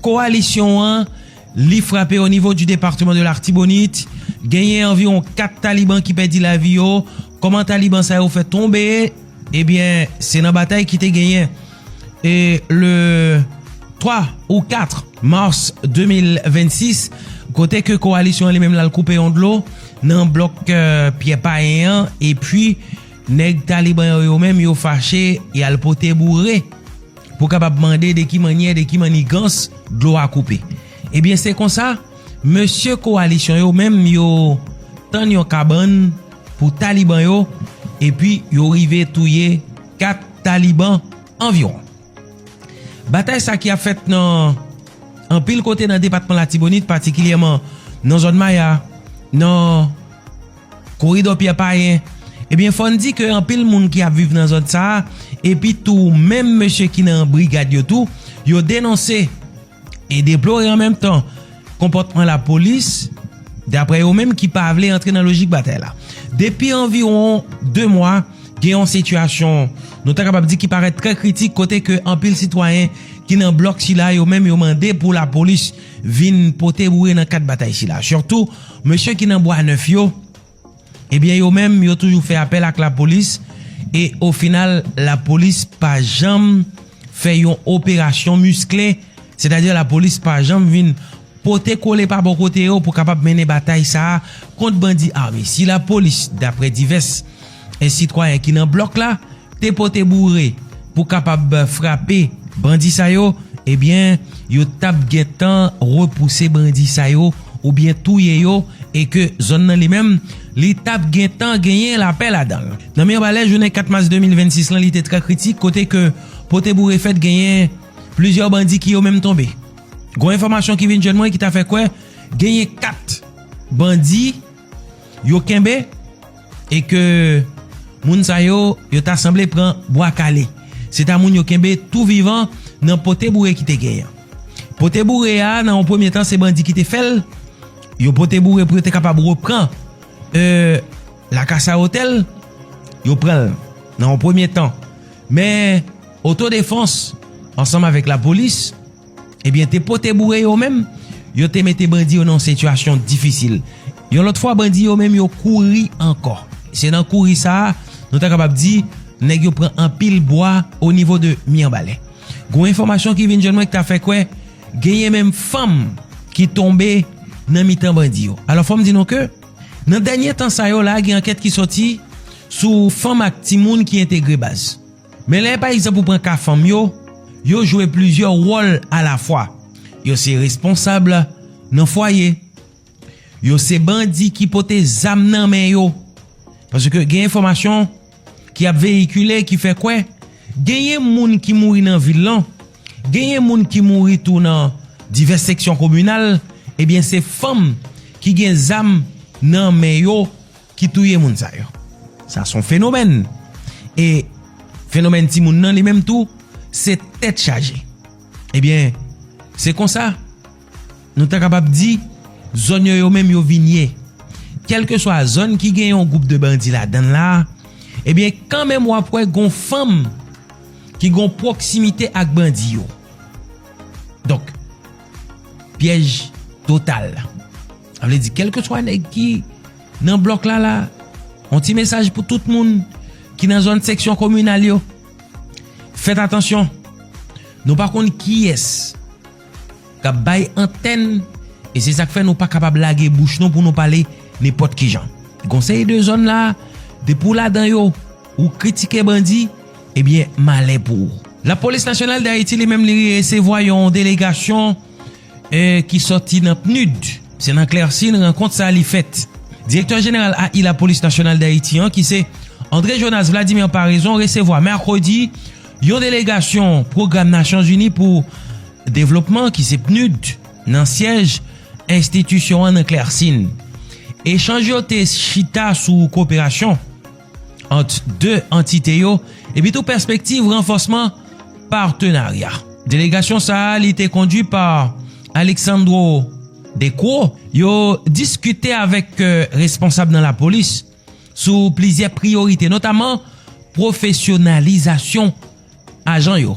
Kowalisyon an, li frape o nivo di departeman de l'Artibonite, genyen anviwon 4 taliban ki pèdi lavi yo, kòman taliban sa yo fè tonbe, ebyen se nan batay ki te genyen e le 3 ou 4 mars 2026 kote ke kowalisyon an li menm lal koupe yon dlo nan blòk Pyè Payen an epi nèg taliban yo yo menm yo fache yal pote boure. pou kapab mande de ki mannyè, de ki mannigans dlo a koupe. Ebyen se konsa, mesye kowalisyon yo menm yo tann yon kabann pou taliban yo epi yo rive touye 4 taliban anviwon. Batay sa ki ap fèt nan anpil kote nan depatman Latibonit patikilyèman nan zòn Maya, nan. Koridò Pyè Payen, Ebyen fò n di ke anpil moun ki ap viv nan zòn sa a, epi tou menm mesye ki nan brigad yo tou, yo denonse e deplore an menm tan konpòtman lapolis, daprè yo menm ki pa vle antre nan lojik batay la. Depi anviwon 2 mwa, gen yon sitiyasyon nou ta kapab di ki parèt trè kritik kote ke anpil sitwayen ki nan blòk sila yo menm yo mande pou lapolis vin pote boure nan kad batay sila. Sitou. Mesye ki nan bwa nèf yo, ebyen yo menm yo toujou fè apèl ak lapolis e o final lapolis pa janm fè yon operasyon miskle, sètadi lapolis pa janm vin pote kole pa bò kote yo pou kapab mennen batay sa a kont bandi ame. Si lapolis daprè divès. 1 sitwayen ki nan blòk la te pote boure pou kapab frape bandi sa yo ebyen yo tap gentan repouse bandi sa yo oubyen touye yo e ke zòn nan li menm li tap gentan genyen lapè ladanl. Nan Mirbalè jounen 4 mas 2026 lan li te trè kritik kote ke pote boure fèt genyen plizyè bandi ki yo menm tonbe. Gon enfòmasyon ki vin jwenn mwen ki ta fè kwè genyen 4 bandi. Yo kenbe e ke moun sa yo yo ta sanble pran bwa kale. Se ta moun yo kenbe tou vivan nan pote boure ki te genyen. Pote boure a nan yon premye tan se bandi ki te fè l. Yo pote boure pou yo te kapab repran e la kasa otèl. Yo pran l nan yon premye tan. Men oto defans ansanm avèk la polis. Ebyen te pote boure yo menm, yo te mete bandi yo nan yon sitiyasyon difisil. Yon lòt fwa bandi yo menm yo kouri ankò. Se nan kouri sa a, nou ta kapab di, nèg yo pran anpil bwa o nivo de Miyanbalè. Gon enfòmasyon ki vin jwenn mwen ki ta fè kwè, genyen menm fanm ki tonbe nan mitan bandi yo. Alò fò m di nou ke, nan dènye tan sa yo la gen ankèt ki sòti sou fanm ak timoun ki entegre baz. Men lè pa egzanp ou pran ka fanm yo, yo jwe plizyè wòl alafwa. Yo se responsab nan fwaye. Yo se bandi ki pote zam nan men yo. Paske gen enfòmasyon ki ap veyikile ki fè kwè genyen moun ki mouri nan vil lan, genyen moun ki mouri tou nan divès seksyon kominal, ebyen se fanm ki gen zam nan men yo ki touye moun sa yo. Sa son fenomèn. E fenomèn ti moun nan li menm tou se tèt chaje. Ebyen se konsa nou ta kapab di zòn yo yo menm yo vin ye. Kèlke swa zòn ki gen yon gwoup de bandi la dann la, ebyen kan menm wap wè gon fanm ki gon pwoksimite ak bandi yo. Donk pyèj total. Sa vle di kelke swa nèg ki nan blòk la la, yon ti mesaj pou tout moun ki nan zòn seksyon kominal yo. Fèt atansyon, nou pa konn kiyès k ap bay antèn e se sa k fè nou pa kapab lage bouch nou pou nou pale nenpòt ki jan. Konseye de zòn la, depi w ladan yo, ou kritike bandi, ebyen malè pou ou. Lapolis Nasyonal Dayiti li menm li resevwa yon delegasyon. e ki sòti nan PNUD. Se nan Clercine rankont sa li fèt. Direktè jeneral AI Lapolis Nasyonal Dayiti an ki se André Jonas Vladimir Paraison resevwa mèkredi yon delegasyon pwogram Nasyonzini pou devlopman ki se PNUD nan syèj enstitisyon an nan Clercine. Echanj yo te chita sou koperasyon. ant 2 antite yo epitou pèspektiv ranfòsman patenarya. Delegasyon sa a li te kondui pa Alexandro De Croo yo diskite avèk responsab nan lapolis sou plizyè priyorite notaman pwofesyonalizasyon ajan yo,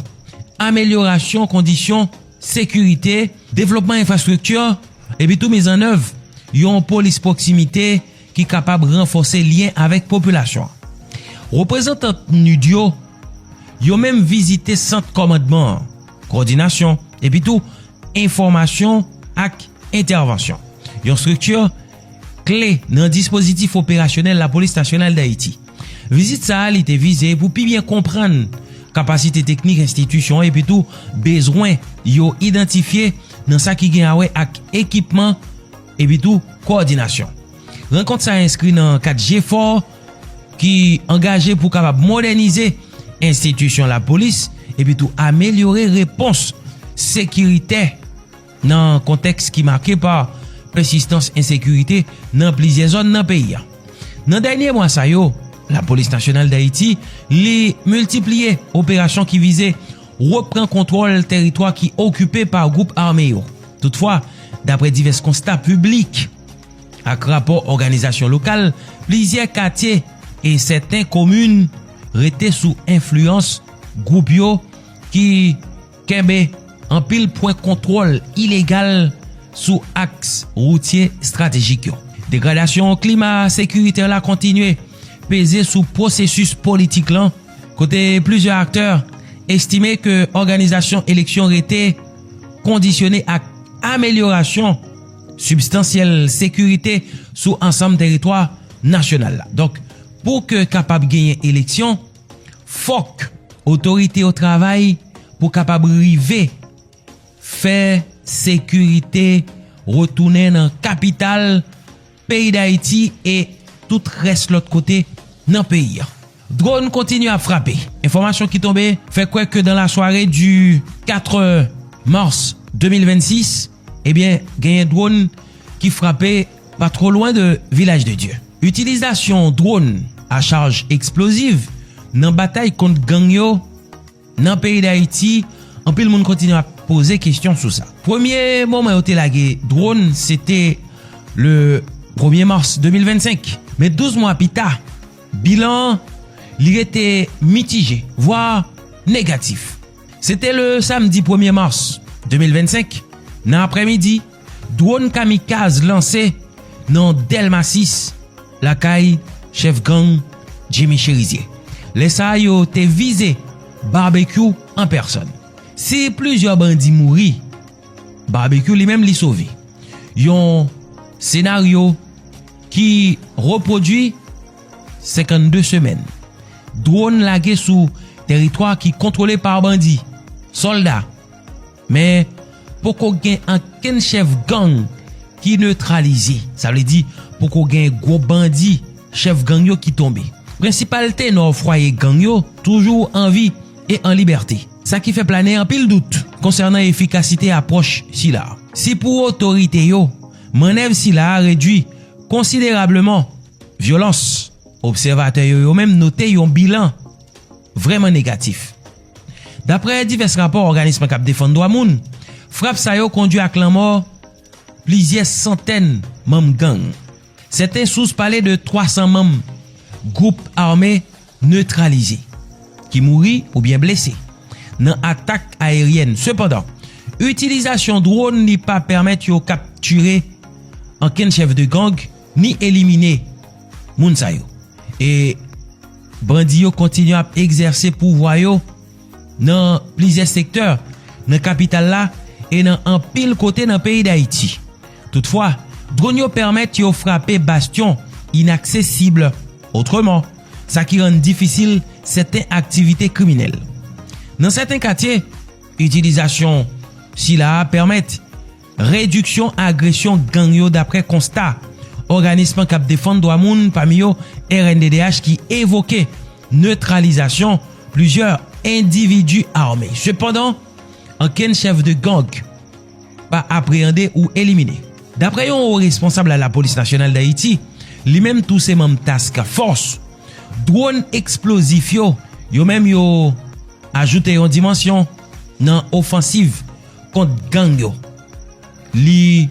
amelyorasyon kondisyon sekirite, devlopman enfrastrikti epitou mizannèv yon polis pwoksimite ki kapab ranfòse lyen avèk popilasyon an. Reprezantan PNUD yo yo menm vizite sant kòmandman an, kòdinasyon, epitou enfòmasyon ak entèvansyon, yon estrikti kle nan dispozitif operasyonèl Lapolis Nasyonal Dayiti. Vizit sa a li te vize pou pi byen konprann kapasite teknik enstitisyon an epitou bezwen yo idantifye nan sa ki gen awè ak ekipman, epi tou kowòdinasyon. Rankont sa enskri nan kad jefò ki angaje pou kapab modènize enstitisyon lapolis epi tou amelyore repons sekiritè nan kontèks ki make pa pèsistans ensekirite nan plizyè zòn nan peyi a. Nan dènye mwa sa yo, Lapolis Nasyonal Dayiti li miltipliye operasyon ki vize repran kontwòl teritwa ki okipe pa gwoup ame yo. Toutfwa, dapre divès konsta piblik ak rapò òganizasyon lokal, plizyè katye e sèten komin rete sou enfliyans gwoup yo ki kenbe anpil pwen kontwòl ilegal sou aks woutye estratejik yo. Degradasyon klima sekiritè la kontinye peze sou pwosesis politik lan. kote plizyè aktè estime ke òganizasyon eleksyon rete kondisyone ak amelyorasyon sibstansyèl sekirite sou ansanm teritwa nasyonal la. Donk, pou ke kapab genyen eleksyon, fòk otorite yo travay pou kapab rive fè sekirite retounen nan kapital, peyi Dayiti e tout rès lòt kote nan peyi an. Dronn kontinye ap frape. Enfòmasyon ki tonbe fè kwè ke dan la sware di 4 mars 2026, ebyen genyen dronn ki frape pa two lwen de Vilaj de Dye. Itilizasyon dronn a chaj eksploziv nan batay kont gang yo, Nan peyi Dayiti, anpil moun kontinye ap poze kesyon sou sa. Premye moman yo te lage dron se te le premye mas 2025. Men 12 mwa pi ta, bilan an li rete mitije, vwa negatif. Se te le samdi premye mas 2025 nan aprèmidi. Dwòn kamikaz lanse nan Dèlma 6 lakay chèf gang Jimmy Cherizier. Lè sa a yo te vize Barbecue an pèsòn. Si plizyè bandi mouri, Barbecue li menm li sove. Yon senaryo ki repwodui 52 semèn. Dwòn lage sou teritwa ki kontwole pa bandi, sòlda. Men, poko gen ankenn chèf gang ki netralize. Sa vle di, poko gen gwo bandi, chèf gang yo ki tonbe. Prensipal tenò fwaye gang yo toujou an vi e an libète. Sa ki fè plane anpil dout konsènan efikasite apwòch sila. Si pou otorite yo, mannèv sila redui konsiderableman vyolans, obsèvatè yo yo menm note yon bilan vrèman negatif. Daprè divès rapò òganism k ap defann dwa moun, frap sa yo kondwi ak lanmò plizyè santèn manm gang. Sèten sous pale de 300 manm gwoup ame netralize ki mouri oubyen blese nan atak ayeryèn. Sepandan, itilizasyon dwòn li pa pèmèt yo kaptire ankenn chèf de gang ni elimine moun sa yo. Bandi yo kontinye ap egzèse pouvwa yo nan plizyè sektè nan kapital la e nan anpil kote nan peyi Dayiti. Toutfwa, dronn yo pèmèt yo frape bastyon inaksesib otreman, sa ki rann difisil sèten aktivite kriminèl. Nan sèten katye, itilizasyon sila a pèmèt. Rediksyon agresyon gang yo daprè konsta òganism k ap defann dwa moun pami yo rnddh ki evoke netralizasyon plizyè endividi ame. Sepandan, ankenn chèf de gang pa apreande ou elimine. Daprè yon wo responsab la lapolis nasyonal Dayiti, li menm tou se manm task fòs, dwòn eksplozif yo, yo menm yo ajoute yon dimansyon nan ofansiv kont gang yo. Li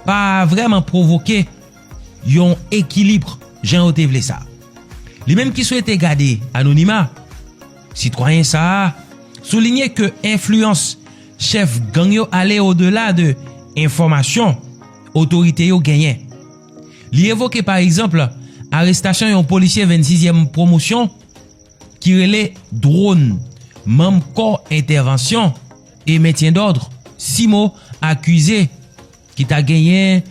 pa vrèman pwovoke yon ekilibre jan yo te vle sa. Li menm ki swete gade anonima, sitwayen sa a soulinye ke enfliyans chèf gang yo ale odela de enfòmasyon otorite yo genyen. Li evoke pa egzanp arestasyon yon polisye 26 yèm pwomosyon ki rele Drone, manm kò entèvansyon. e mentyen dòdr si mo akize ki ta genyen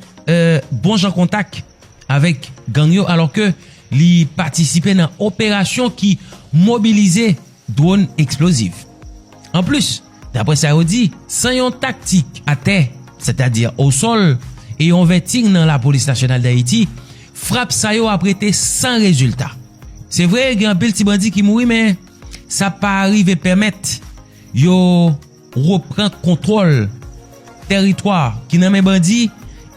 bon jan kontak avèk gang yo alò ke li patisipe nan operasyon ki mobilize dwòn eksploziv. Anplis, daprè sa yo di, san yon taktik atè, sètadi osòl, e yon vèting nan Lapolis Nasyonal Dayiti, frap sa yo ap rete san rezilta. Se vre gen anpil ti bandi ki mouri men sa pa rive pèmèt. Yo repran kontwòl tèritwa ki nan men bandi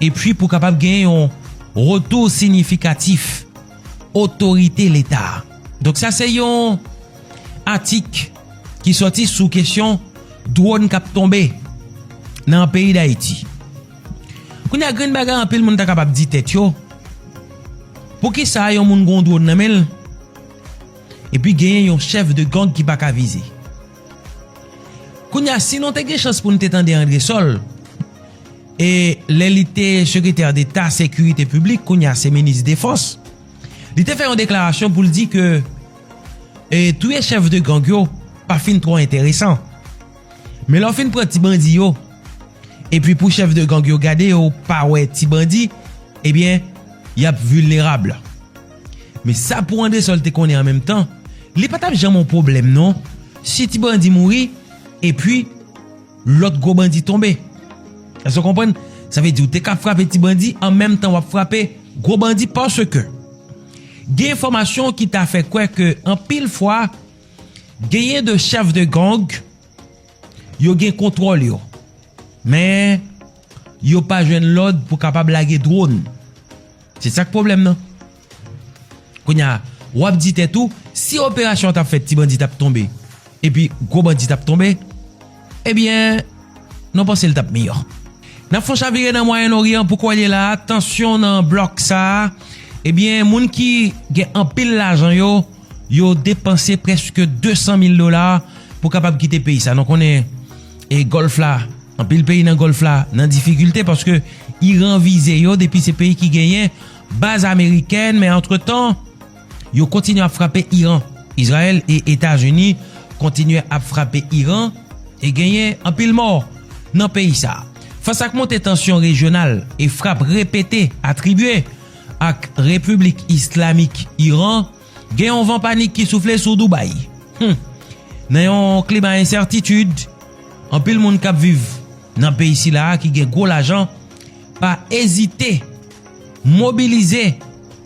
epi pou kapab gen yon retou sinyifikatif otorite Leta. Donk sa se yon atik ki sòti sou kesyon dwòn k ap tonbe nan peyi Dayiti. Kounye a grenn bagay anpil moun ta kapab di tèt yo, poukisa yon moun gen yon dwòn nan men l, Epi genyen yon chèf de gang ki paka vize. Kounya si nou te gen chans pou nou te tande Andresol e lè li te sekretè deta sekirite piblik kounya se minis defans li te fè yon deklarasyon pou l di ke e touye chèf de gang yo pa fin twò enteresan. Men lè w fin pran ti bandi yo epi pou chèf de gang yo gade yo pa wè ti bandi ebyen y ap vilnerab. Men sa pou Andresol te konnen an menm tan, li pa t ap janm yon pwoblèm non, si ti bandi mouri, epi lòt gwo bandi tonbe. Èske w konprann? Sa vle di ou te ka frape ti bandi an menm tan w ap frape gwo bandi paske gen enfòmasyon ki ta fè kwè ke anpil fwa genyen de chèf de gang yo gen kontwòl yo men yo pa jwenn lòd pou kapab lage dwòn. Se sak pwoblèm nan. Kounya wap di tèt ou si operasyon an tap fèt ti bandi tap tonbe epi gwo bandi tap tonbe ebyen nou panse li tap miyò. Nap fon chavire nan mwayen noryan pou kòlye la tansyon nan blòk sa ebyen moun ki gen anpil lajan yo. yo depanse preske 200 mil dola pou kapab kite peyi sa. Nou konnen e Gòlf la, anpil peyi nan Gòlf la nan difikilte paske Iran vize yo depi se peyi ki genyen baz amerikèn men antretan yo kontinye ap frape Iran. Izrayèl e Etazini kontinye ap frape Iran e genyen anpil mò nan peyi sa. Fas ak monte tansyon rejyonal e frap repete atribye, ak Repiblik Islamik Iran, gen yon van panik ki soufle sou Dubai. Hum! Nan yon klima ensètitid, anpil moun k ap viv nan peyi sila a ki gen gwo lajan pa ezite mobilize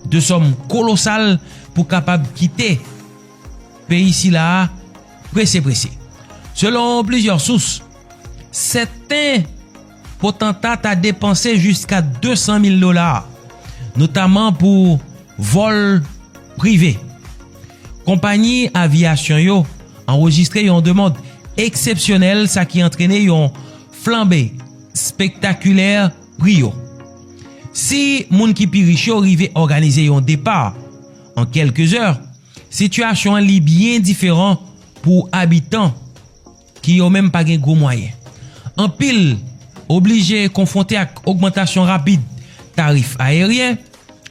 de sòm kolosal pou kapab kite peyi sila a prese prese. Selon plizyè sous, sèten. Potanta ta depanse jiska 200 mil dola, notaman pou vòl prive. Konpayi aviyasyon yo anrejistre yon demand eksepsyonèl sa ki antrene yon flanbe spektakilè pri yo. Si moun ki pi rich yo rive òganize yon depa an kèlke zè, sitiyasyon an li byen diferan pou abitan. ki yo menm pa gen gwo mwayen. Anpil oblije konfwonte ak ogmantasyon rapid tarif ayeryen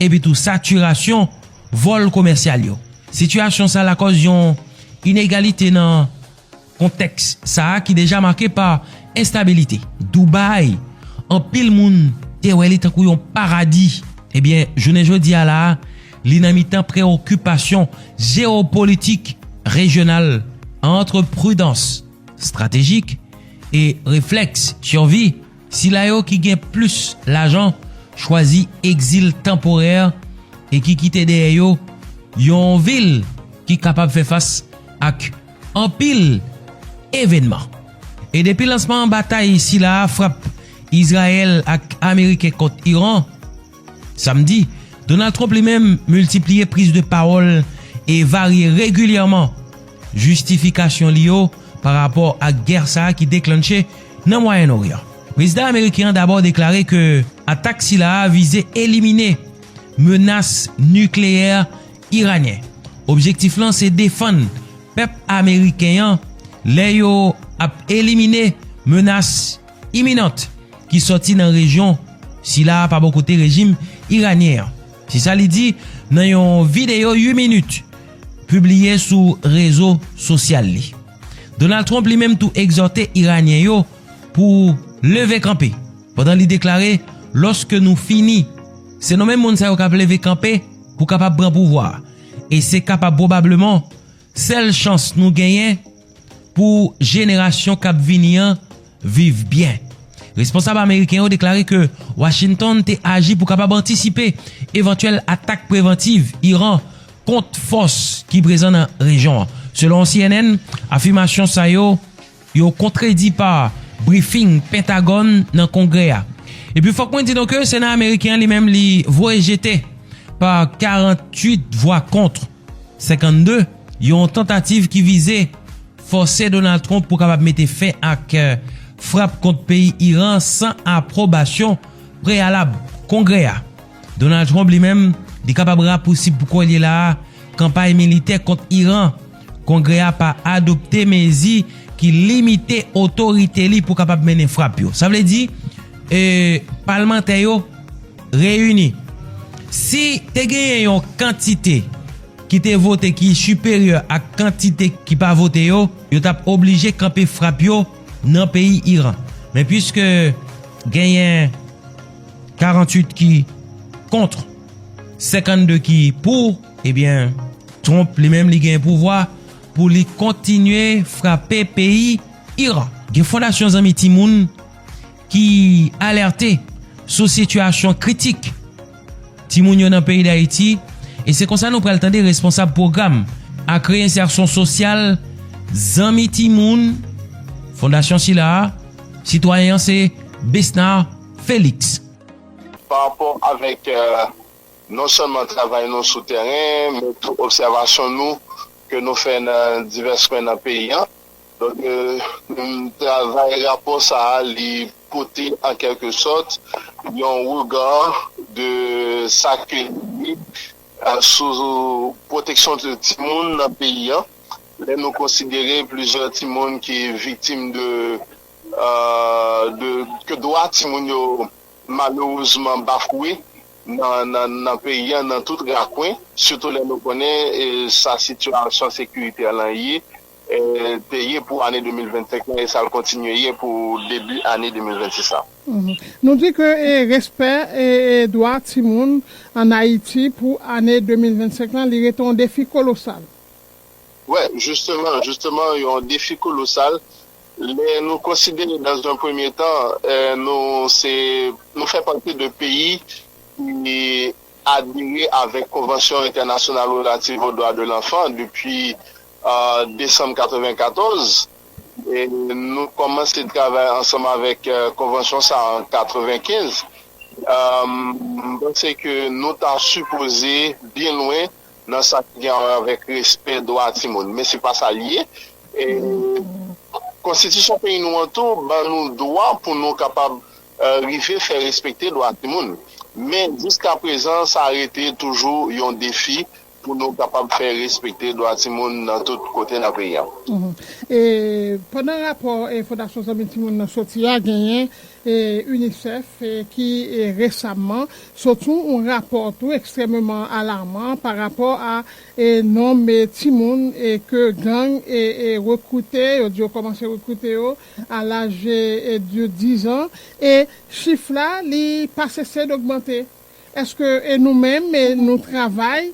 epi tou satirasyon vòl komèsyal yo. Sitiyasyon sa lakòz yon inegalite nan kontèks sa ki deja make pa enstabilite. Dubai, anpil moun te wè li tankou yon paradi, ebyen jounen jodi a la a, Li nan mitan preokipasyon jewopolitik rejyonal antre pridans estratejik e reflèks sirvi, sila yo ki gen plis lajan chwazi egzil tanporè e ki kite dèyè yo yon vil ki kapab fè fas ak anpil evènman. E depi lansman batay sila a frap Izrayèl ak Ameriken kont Iran, Samdi, Donald Trump li menm miltipliye priz de pawòl e varye regilyèman jistifikasyon li yo pa rapò ak gè sa ki deklannche nan Mwayen Oryan. Prezidan ameriken an dabò deklare ke atak sila a vize elimine menas nikleyè iranyen. Objektif lan se defann pèp ameriken an lè yo ap elimine menas. Iminant ki sòti nan rejyon sila pa bò kote rejim iranyen an. Se sa li di nan yon videyo 8 minit pibliye sou rezo sosyal li. Donald Trump li menm tou egzòte iranyen yo pou leve kanpe pandan li deklare lòske nou fini se nou menm moun sa yo k ap leve kanpe pou kapab pran pouvwa a e se kapab pwobableman Sèl chans nou genyen pou jenerasyon k ap vini an viv byen. Responsab ameriken yo deklare ke Washington te aji pou kapab antisipe evantyèl atak prevantiv Iran kont fòs ki prezan nan rejyon an. Selon cnn, afimasyon sa yo. Yo kontredi pa brifing Pentagòn nan Kongrè a. Epi fòk mwen di nou ke Sena Ameriken an li menm li voye jete pa 48 vwa kont 52 yon tantativ ki vize fòse Donald Trump pou kapab mete fen ak frap kont peyi Iran san apwobasyon preyalab Kongrè a. Donald Trump li menm, li kapab rapousib pou kòl ye la a, kanpay militè kont Iran. Kongrè a pa adopte mezi ki limite otorite li pou kapab mennen frap yo. Sa vle di, e, palmantè yo reyini. Si te genyen yon kantite ki te vote ki siperyè ak kantite ki pa vote yo, yo t ap oblije kanpe frap yo nan peyi Iran. Men piske genyen. 48 ki kontr, 52 ki pou, ebyen Trump li menm li gen pouvwa pou li kontinye frape peyi Iran. Gen fondasyon zanmi timoun ki alerte sou sitiyasyon kritik timoun yo nan peyi Dayiti e se konsa nou pral tande responsab pwogram ak reyensèsyon sosyal zanmi timoun fondasyon sila a, sitwayen an se Besnard. Félix. Pa rapò avèk non sèlman travay nou sou tèren, men tou obsèvasyon nou ke nou fè nan divès kwen nan peyi an. Donk, travay rapò sa a li pote an kèlke sòt yon rega de sa ke nou di sou pwoteksyon timoun nan peyi an, lè nou konsidere plizyè timoun ki viktim de de ke dwa timoun yo malerezman bafwe nan peyi an nan tout rakwen, sitou lè nou konnen sa sitiyasyon sekirite lan ye, te ye pou ane 2025 lan e sa l kontinye ye pou debi ane 2026 la. Nou di ke respè dwa timoun an Ayiti pou ane 2025 lan, li rete yon defi kolosal. Wè, jisteman, jisteman, yon defi kolosal. Lè nou konsidere dans un premye tan nou se nou fè pati de peyi ki adere avèk konvansyon entènasyonal relativ o dwa de lanfan depi desanm 94 e nou kòmanse travay ansanm avèk konvansyon sa an 95 m panse ke nou ta sipoze byen lwen nan sa ki gen awè avèk respè dwa timoun, men se pa sa li ye. E konstitisyon peyi nou an tou ban nou dwa pou nou kapab rive fè respekte dwa timoun. Men jiska prezan sa rete toujou yon defi pou nou kapab fè respekte dwa timoun nan tout kote nan peyi an. E pandan rapò Fondasyon Zanmi Timoun nan soti a, genyen UNICEF ki resamman Sot sou yon rapò tou ekstrèmeman alarman pa rapò a nonb timoun ke gang rekrite, yo di yo kòmanse rekrite yo a laj de 10 an e chif la li pa sese dogmante. Eske nou menm nou travay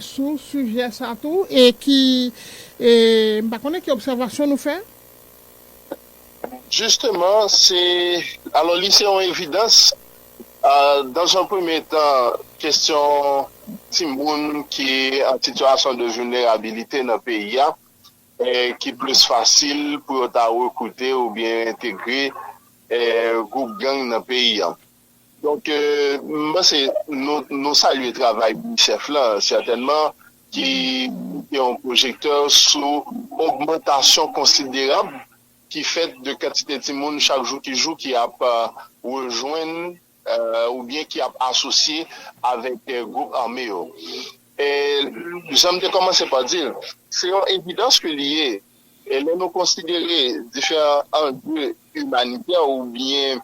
sou sijè sa tou e ki m pa konnen ki obsèvasyon nou fè? Jisteman se, alò li se yon evidans Dans un premye tan, kestyon timoun ki an sitiyasyon de vilnerabilite nan peyi a, ki plis fasil pou yo ta rekrite oubyen entegre gwoup gang nan peyi a. Donk, m panse nou salye travay UNICEF la, sètènman, ki mete yon pwojektè sou ogmantasyon konsiderab ki fèt de kantite timoun chak jou ki jou ki ap rejwenn oubyen ki ap asosye avèk gwoup ame yo. Jan m te kòmanse pa di l, se yon evidans ke li ye, lè nou konsidere diferan anje imanitè oubyen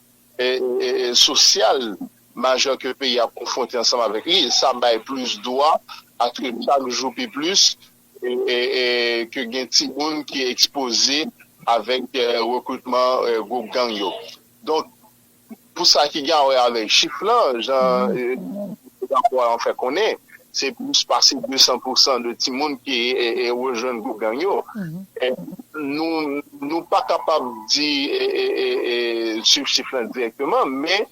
sosyal majè ke peyi a konfwonte ansanm avèk li, sa bay plis dwa a ke chak jou pi plis ke gen timoun ki ekspoze avèk rekritman gwoup gang yo. Donk, pou sa ki gen awè avèk chif lan, jan rapò an fè konnen, se plis pase 200 pousan de timoun ki rejwenn gwoup gang yo. Nou pa kapab di, suiv chif lan dirèkteman, men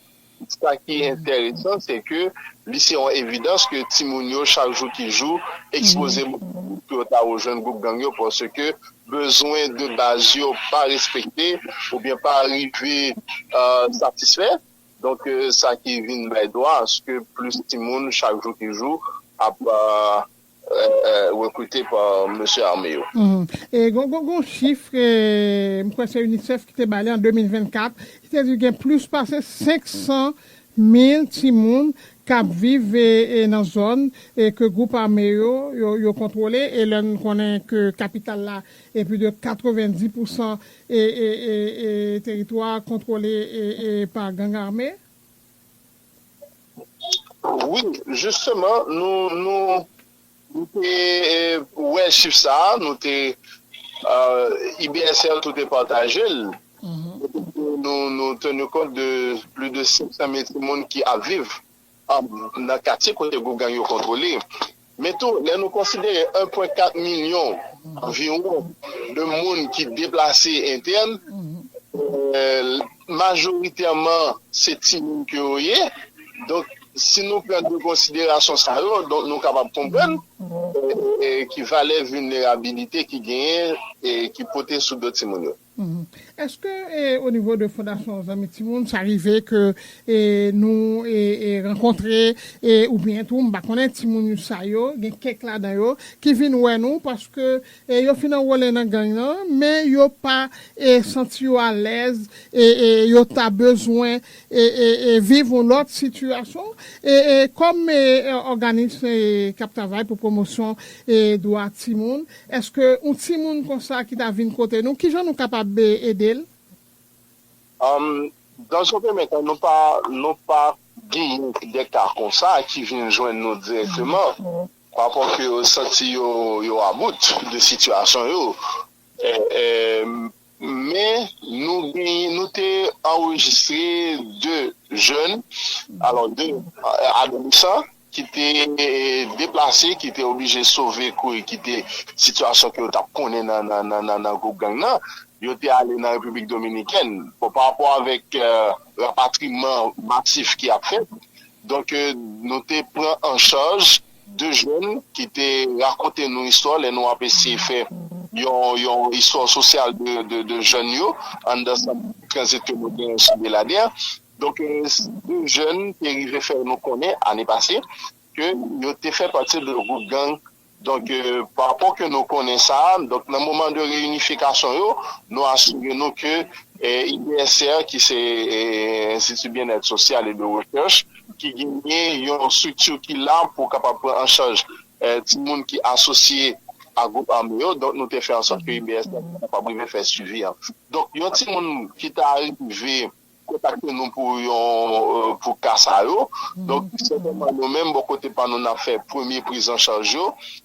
Sa ki enteresan se ke li se yon evidans ke timoun yo chak jou ki jou ekspoze pou yo ta rejwenn gwoup gang yo paske bezwen de baz yo pa respekte oubyen pa rive satisfè. Donk sa ki vin bay dwa aske plis timoun chak jou ki jou ap. rekrite pa mesye ame yo. E gon chif ke m kwè se UNICEF ki te bay li an 2024, ki te di gen plis pase 500 mil timoun k ap viv nan zòn ke gwoup ame yo kontwole, e lè n konnen ke kapital la e plis de 90 pousan teritwa kontwole pa gang ame. Wi, jisteman, nou te wè chif sa a, nou te, IBSR tou te pataje l, nou tenu kont de plis de 500 mil timoun ki ap viv nan katye kote gwoup gang yo kontwole. Men tou, lè nou konsidere 1.4 milyon anviwon de moun ki deplase entèn, majoritèman se timoun ke yo ye, donk si nou pran 2 konsiderasyon sa yo, donk nou kapab konprann ki valè vilnerabilite ki genyen, ki pote sou do timoun yo. Eske o nivo de fondasyon zanmi timoun sa rive ke nou rankontre ou byen tou m pa konnen timoun usa yo gen kèk ladan yo ki vin wè nou paske yo fin anwole nan gang nan men yo pa santi yo alèz yo ta bezwen viv yon lòt sitiyasyon kòm òganis kap travay pou pwomosyon dwa timoun Eske yon timoun konsa ki ta vin kote nou, kijan nou kapab ede l? Am, Dans yon premye tan, nou pa, nou pa genyen de ka konsa ki vin jwenn nou dirèkteman, pa paske yo santi yo, yo about de sitiyasyon yo. Men, nou genyen, nou te anrejistre 2 jèn, alò 2 adolesan ki te deplase, ki te oblije sove kouri kite sitiyasyon ke yo t ap konnen nan gwoup gang nan, yo te ale nan Repiblik Dominikèn. Bon, pa rapò avèk rapatriman masif ki ap fèt, donk nou te pran an chaj. 2 jèn ki te rakonte nou istwa lè nou ap eseye fè yon istwa sosyal de jèn yo anndan sant tranzit ke nou genyen sou Beladè. Donk 2 jèn te rive fè nou konnen ane pase ke yo te fè pati de gwoup gang. Donk pa rapò ke nou konnen sa, donk nan moman de reyinifikasyon yo, nou asire nou ke IBSR ki se Enstiti Byennèt Sosyal e de Rechèch, ki genyen yon strikti ki la pou kapab pran an chaj timoun ki asosye a gwoup ame yo. Donk nou te fè ansòt ke IBS la te kapab rive fè swivi an. Donk yon timoun ki ta rive kontakte nou pou yon, pou ka sa yo, donk sètènman nou menm bò kote pa nou n ap fè premye prizanchaj yo.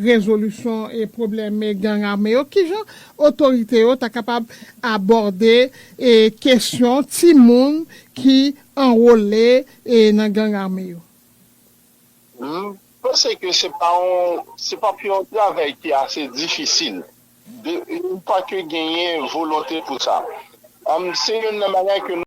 rezolisyon pwoblèm gang ame yo, kijan otorite yo ta kapab abòde kesyon timoun ki anwole nan gang ame yo? M panse ke se pa yon, se pa p yon travay ki ase difisil, de, une fois ke genyen volonte pou sa. Se youn nan bagay ke nou.